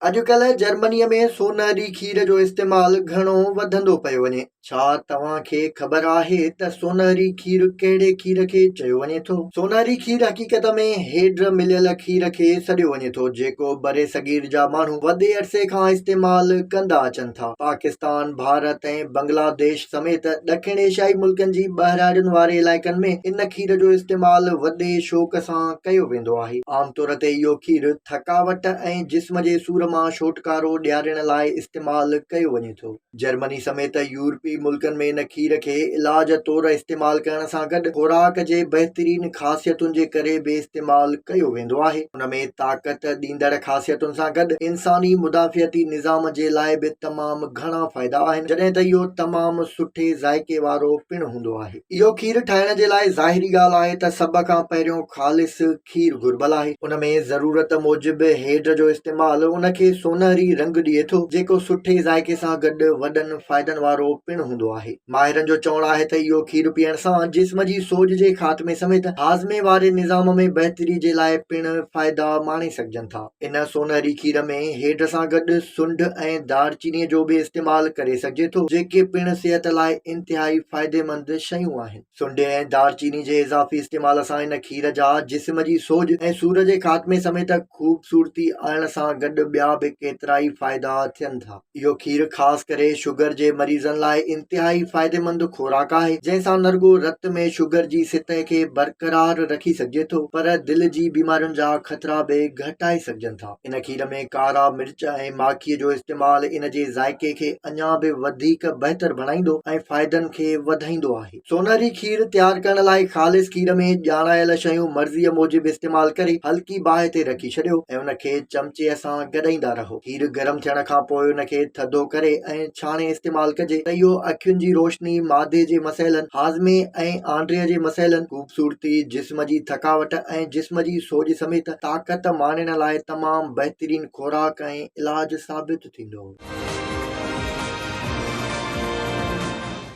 اڄڪلهه جرمنيء ۾ سونهري کير جو استعمال گهڻو وڌندو پيو وڃي. ڇا توهان کي خبر آهي ته سونهري کير ڪهڙي کير کي چيو وڃي ٿو؟ سونهري کير حقيقت ۾ هيڊر مليل کير کي سڏيو وڃي ٿو، جيڪو برصغير جا ماڻهو وڏي عرصي کان استعمال ڪندا اچن ٿا. پاڪستان، ڀارت ۽ بنگلاديش سميت ڏکڻ ايشيائي ملڪن جي ٻهراڙين واري علائقن ۾ ان کير جو استعمال وڏي شوق سان ڪيو ويندو آهي. عام طور تي اهو کير ٿڪاوٽ ۽ جسم جي سور مان ڇوٽڪارو ڏيارڻ لاء استعمال ڪيو وڃي ٿو. جرمني سميت يورپي ملڪن ۾ ان کير کي علاج طور استعمال ڪرڻ سان گڏ خوراڪ جي بهترين خاصيتن جي ڪري به استعمال ڪيو ويندو آهي. ان ۾ طاقت ڏيندڙ خاصيتن سان گڏ انساني مدافعتي نظام جي لاء به تمام گهڻا فائدا آهن، جڏهن ته اهو تمام سٺي ذائقي وارو پڻ هوندو آهي. اهو کير ٺاهڻ جي لاء ظاهري ڳالهه آهي ته سڀ کان پهريون خالص کير گهربل آهي. ان ۾ ضرورت موجب هيڊ جو استعمال ان کي سونهري رنگ ڏئي ٿو، جيڪو سٺي ذائقي سان گڏ وڏن فائدن وارو پڻ هوندو آهي. ماهرن جو چوڻ آهي ته اهو کير پيئڻ سان جسم جي سوڄ جي خاتمي سميت هاضمي واري نظام ۾ بهتري جي لاء پڻ فائدا ماڻي سگهجن ٿا. ان سونهري کير ۾ هيڊ سان گڏ سنڍ ۽ دار چيني جو به استعمال ڪري سگهجي ٿو، جيڪي پڻ صحت لاء انتهائي فائديمند شيون آهن. سنڍي ۽ دار چيني جي اضافي استعمال سان هن کير جا جسم جي سوڄ ۽ سور جي خاتمي سميت خوبصورتي آڻڻ سان گڏ ٻيا به ڪيترائي فائدا ٿين ٿا. اهو کير خاص ڪري شگر جي مريضن لاء انتهائي فائديمند خوراڪ آهي جنهن سان نه رڳو رت ۾ شگر جي سطح کي برقرار رکي سگهجي ٿو پر دل جي بيمارين جا خطرا به گهٽائي سگهجن ٿا. ان کير ۾ ڪارا مرچ ۽ ماکي جو استعمال ان جي ذائقي کي اڃا به وڌيڪ بهتر بڻائيندو ۽ فائدن کي وڌائيندو آهي سونهري کير تيار ڪرڻ لاء خالص کير ۾ ڄاڻايل شيون مرضي موجب استعمال ڪري هلڪي باهه تي رکي ڇڏيو ۽ ان کي چمچي سان گڏائيندا رهو کير گرم ٿيڻ کان پوء ان کي ٿڌو ڪري ۽ ڇاڻي استعمال ڪجي ته اهو اکين جي روشني معدي جي مسئلن هاضمي ۽ آنڊري جي مسئلن خوبصورتي، جسم جي ٿڪاوٽ ۽ جسم جي سوڄ سميت طاقت ماڻڻ لاء تمام بهترين خوراڪ ۽ علاج ثابت ٿيندو.